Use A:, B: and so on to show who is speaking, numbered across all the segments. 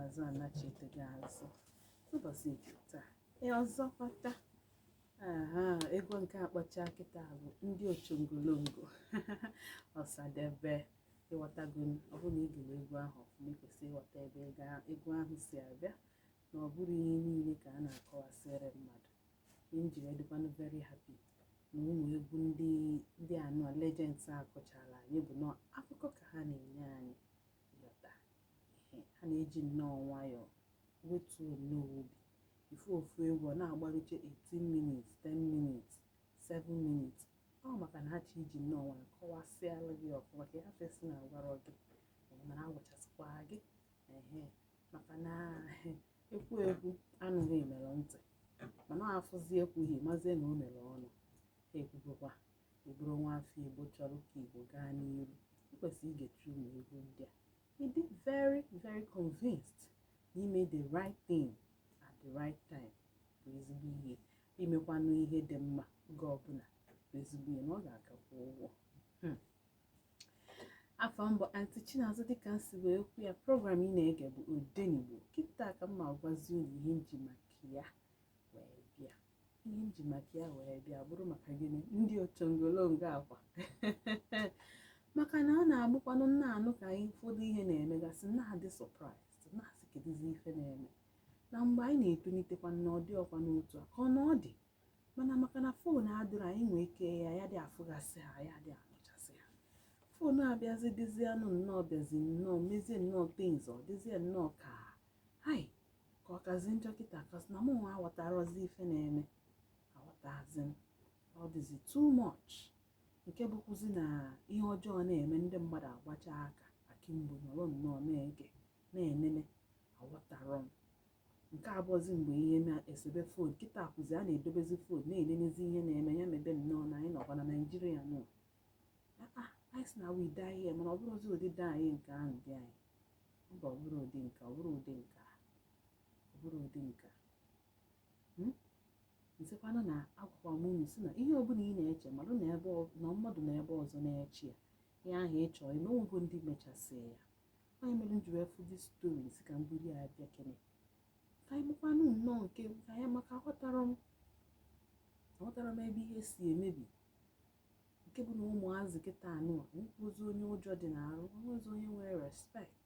A: azụ anachite gị azụ ụbọchị nke taa ee ọzọkwa taa aha egwu nke akpọcha kịta bụ ndị ochongolongo ọsadebe ịghọtago m ọ bụrụ na ị gere egwu ahụ ọfụma ị kwesịrị ịghọta ebe ị ga egwu ahụ si abịa na ọ bụrọ ihe niile ka a na-akọwasịrị mmadụ ihe m ji wee dịkwanụ very happy na ụmụ egwu ndị ndị anọ legends a kụchara anyị bụ na akụkọ ka ha na-enye anyị ha na-eji nnọọ nwayọọ wetuo nnọọ obi ị fụ ofu egwu ọ na-agbaruche 18 minutes 10 minutes 7 minutes ọ maka na ha chọ iji nnọọ nwayọọ kọwasịala gị ọfụma ka ị hafụ ịsị na agwarọ gị mana agwachasịkwa gị ehe maka na ekwu ekwu anụghị mere ntị mana afụzi ekwughị mazie na o mere ọnụ ha ekwugokwa Ị bụrụ nwa afọ Igbo chọrọ ka Igbo gaa n'iru, ị kwesịrị igecha ụmụ egwu ndị a. Ị dị very very convinced na ime the right thing at the right time bụ ezigbo ihe. Imekwanụ ihe dị mma oge ọbụla bụ ezigbo ihe na ọ ga-akwụkwa ụgwọ. Hmm. afa m bụ anti Chinazọ dịka m si wee kwu ya program ị na-ege bụ odenigbo kịta ka m ma-agwazi unu ihe m ji maka ya ihe m ji maka ya wee bịa bụrụ maka gịnị ndị ochongolongo ọkwa maka na ọ na-abụkwanụ nna anụ ka anyị ụfọdụ ihe na-emegasị na-adị surprised na-asị kedụzi ife na-eme na mgbe anyị na-etolitekwa na ọ dịrọkwanụ otu a ka ọ na ọ dị mana maka na foonu adịrọ anyị nwee ike anyị adị afụgasị ha anyị adị anụchasị ha foonu abịazi dịzienụ nnọọ bịazi nnọọ mezie nnọọ things ọ dịzie nnọọ ka hai ka ọ kazi njọ kịta cos na mụ nwa aghọtarozi ife na-eme aghọtazi m ọ dịzi too much nke bụkwuzi na ihe ọjọọ na-eme ndị mmadụ agbacha aka akimbo nọrọ nnọọ na-ege na-enene aghọtarọ m nke a bụzi mgbe ihe na-esebe phone kịta kwụzi a na-edobezi phone na-enenezi ihe na-eme ya mebe nnọọ na anyị nọkwa na naijiria nọ anyị sị na we die here mana ọ bụrọzi ụdị die here nke ahụ die here mba ọ bụrọ ụdị nke ọ bụrọ ụdị nke ọ bụrọ ụdị nke hmm? m sịkwanụ na agwakwa m unu sị na ihe ọbụla ị na-eche mmadụ na ebe na mmadụ na ebe ọzọ na-eche ya ihe ahụ ị chọrọ ime onwego ndị mechasị ya ọ ya mere m ji wee fụ this story sị ka m buru ya bịa kene ka anyị mekwanụ nnọọ nke aka anyị maka aghọtara m aghọtara m ebe ihe si emebi nke bụ na ụmụazị kịta na onwezi onye ụjọ dị n'arụ onwezi onye nwere respect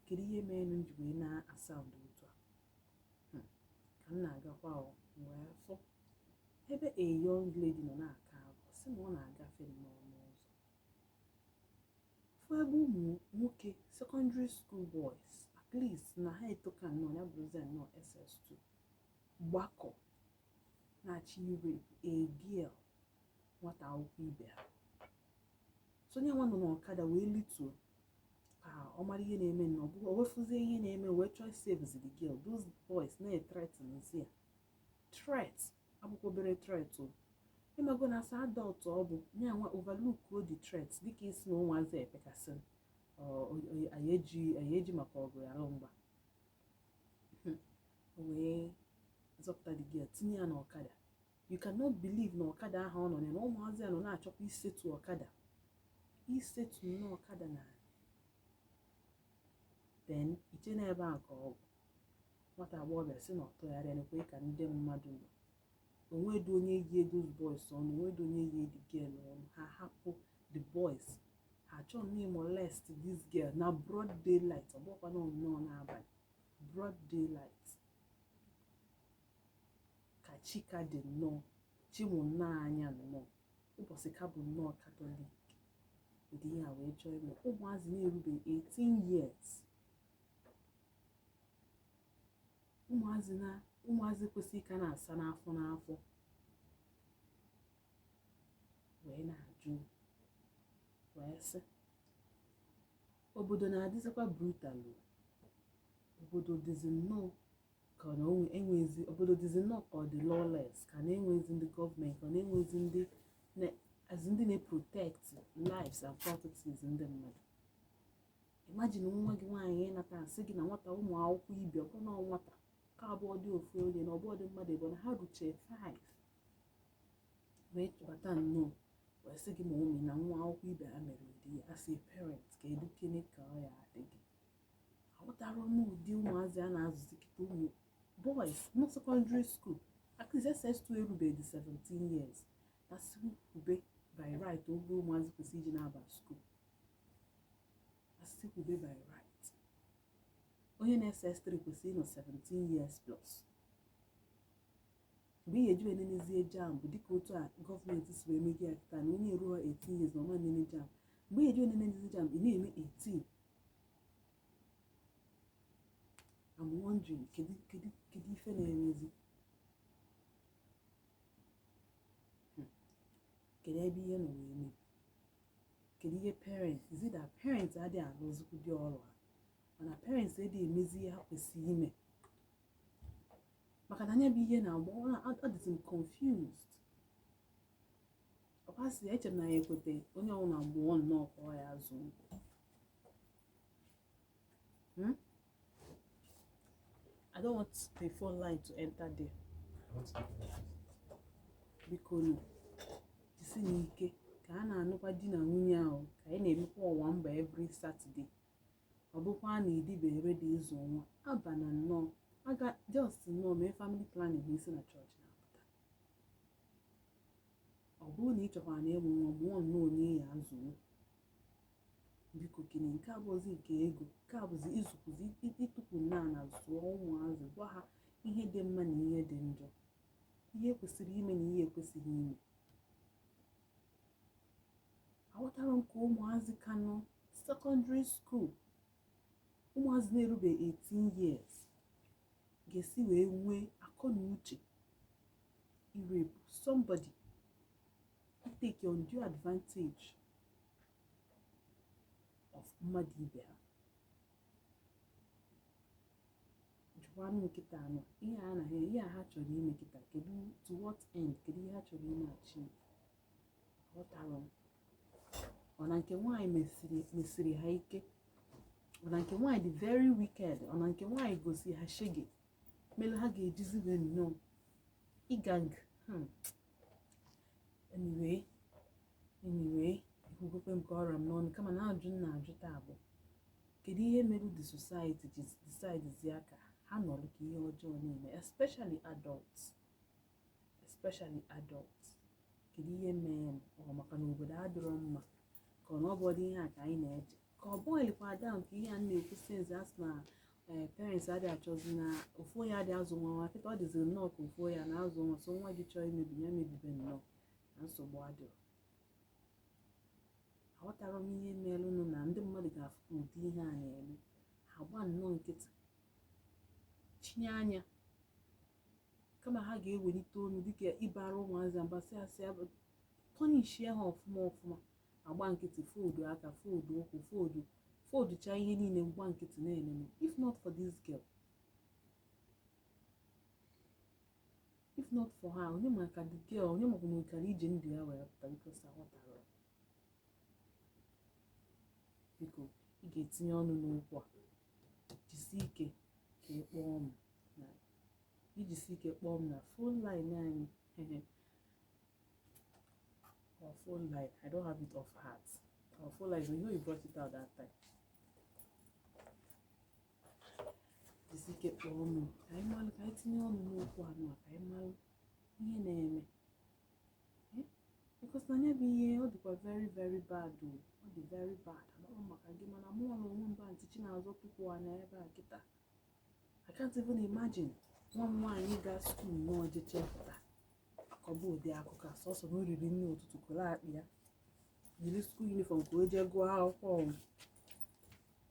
A: kedu ihe mere na nji wee na-asound otu a Hmm. ka m na-agakwa o wee fụ ebe a young lady nọ na-akwa akwa sị na ọ na-agafe nnọọ n'ụzọ fụ ebe ụmụ nwoke secondary school boys at least na ha etoka nnọọ ya bụrụzie nnọọ ss2 gbakọ na-achọ ịrape a girl nwata akwụkwọ ibe ha so ya nwa nọ n'ọkada wee lituo ka ọ mara ihe na-eme na ọ wee fụzie ihe na-eme wee chọọ ịsavezi the girl those boys na-ethreatenzi ya threat abụkwa obere threat o ịmago na as an adult ọ bụ ya nwa overlookuo the threat dịka ị sị na ụmụazị epekasịrị ya eji maka ọgụ na mgba hmm. o wee zọpụta the girl tinye ya n'ọkada you cannot believe na ọkada ahụ ọ nọ ya na ụmụazị a nọ na-achọkwa isetu ọkada isetu n'ọkada na then i chee na ebe ahụ ka ọ gwụ nwata agbọghọbịa sị na ọ tụgharịa nekwe ka ndị mmadụ nọ onwedị onye yi those boys ọnụ onwedị onye yi the girl ọnụ ha hapụ the boys ha chọọ nnọọ ịmolest this girl na broad daylight ọ bụkwa na nnọọ n'abalị broad daylight ka chi ka dị nnọọ chi mụ nnọọ anya nnọọ ụbọchị ka bụ nnọọ katọlik ụdị ihe a wee chọọ ime ụmụazị na-erubeghị 18 years ụmụazị na ụmụazị kwesịrị ịka na-asa n'afọ n'afọ wee na-ajụ wee sị obodo na-adịzikwa brutal obodo dịzi nnọọ ka na enwezi obodo dịzi nnọọ ka ọ dị lawless ka na enwezi ndị gọọmenti ka na enwezi ndị as ndị na-protect lives and properties ndị mmadụ imagine nwa gị nwaanyị nata sị gị na nwata ụmụ akwụkwọ ibe ọbụna nwata ka ọ bụrọdị ofu onye na ọ bụrọdị mmadụ ebe na ha ruche 5 wee chọbata nnọọ wee sị gị ma ụmụ na nwa akwụkwọ ibe ha mere ụdị ihe a as a parent kedukene ka ọ ya-adị gị aghọtara m ụdị ụmụazị a na-azụzi kịta ụmụ boys na secondary school akụzi ss2 erubeghị 17 years na si ube by right oge ụmụazị kwesịrị iji na-aba school a sị kwube by right onye nọ SS3 kwesịrị ịnọ 17 years plus mgbe ị ya-eji wee nenezie JAMB dịka otu a gọọmenti si wee mezie ya kịta na onye eruro 18 years na ọ ma nene JAMB mgbe ị ya-eji wee nenezie JAMB ị na-eme 18 I'm wondering kedu kedu kedu ife na-emezi kedu ebe ihe nọ wee mee kedu ihe parents is it that parents adịghị arụzikwudị ọrụ ha mana parents adịghị emezi ihe ha kwesịrị ime maka na nya bụ ihe na-agba ọ na- ọ dịzi m confused ọkwa sị ya eche m na ya ekweta onye ọbụla mụọ nnọọ ka ọ ya-azụ Hmm? I don't want the phone line to enter there. Biko nụ, jisinụ ike ka a na-anụkwa di na nwunye ahụ ka anyị na-emekwa owambe every Saturday. Ọ bụkwa na adịbe ready ịzụ nwa abana nnọọ aga just nnọọ mee family planning ma ị si na chọọchị na-apụta. Ọ bụrụ na ị chọkwara na ịmụ nwa mụọ nnọọ onye ị ya-azụnwu biko kene nke a bụzi nke ego nke a bụzi ịzụkwuzi itukwu n'ana zụọ ụmụazị gwa ha ihe dị mma na ihe dị njọ ihe kwesịrị ime na ihe ekwesịghị ime aghọtara m ka ụmụazị ka nọ secondary school ụmụazị na-erube 18 years ga-esi wee nwee akọ na uche irape somebody take undue advantage of mmadụ ibe ha jụkwanụ kịta a nọ ihe a na ihe a ha chọrọ ime kịta kedu to what end kedu ihe ha chọrọ ime achieve aghọtara m ọ na nke nwaanyị mesiri mesiri ha ike ọ na nke nwaanyị dị very wicked ọ na nke nwaanyị gosi ha shege mere ha ga-ejizi wee nnọọ ịgang hmm. anyway anyway ekwugokwa m ka ọ ra m n'ọnụ kama na-ajụ na-ajụ taa bụ kedu ihe mere the society ji decidezia ka ha nọrọ ka ihe ọjọọ na-eme especially adults especially adults kedu ihe mere ọ maka na obodo adịrọ mma ka ọ na ọ bụ ụdị ihe a ka anyị na-eje ka ọ boilkwa down ka ihe a na-ekwu since a sị na eh, parents adị achọzi na ofu onye adị azụ nwa nwa kịta ọ dịziri nnọọ ka ofu onye a na-azụ nwa so nwa gị chọọ imebi ya mebibe nnọọ na nsogbu adịrọ aghọtara m ihe merenụ na ndị mmadụ ga-afụ ka ụdị ihe a na-eme ha gba nnọọ nkịtị chinye anya kama ha ga-ewelite onu dịka ịbara ụmụazị mba sị a sị punishie ha ọfụma ọfụma agba nkịtị fold aka fold ụkwụ fold fold chaa ihe niile mgba nkịtị na-enene if not for this girl if not for her onye ma ka the girl onye makwa na ọ kara iji ndụ ya wee pụta because aghọtara biko ị ga-etinye ọnụ n'okwu a jisi ike ka ị kpọọ m na jisi ike kpọọ m na phone line anyị Our phone line. I don't have it off heart. Our phone line. You know you brought it out that time. Jisi ike kpọọ m ka anyị malụ ka anyị tinye ọnụ n'okwu anụ a ka anyị malụ ihe na-eme. Eh? Because na nya bụ ihe ọ dịkwa very very bad o. Ọ dị very bad. Amaghị m maka gị mana mụ ọrụ onwe mba ntị chi na-azọ tupu anya ebe a kịta. I can't even imagine nwa m nwaanyị gaa skuul na o jechaa pụta. kọba ụdị akụkọ a sọsọ na o riri nri ụtụtụ kwọrọ akpa ya yiri skuul uniform ka o jee gụọ akwụkwọ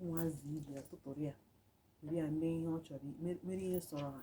A: ụmụazị ibe ya tụtụrụ ya were ya mee ihe ọ chọrọ me- mere ihe sọrọ ha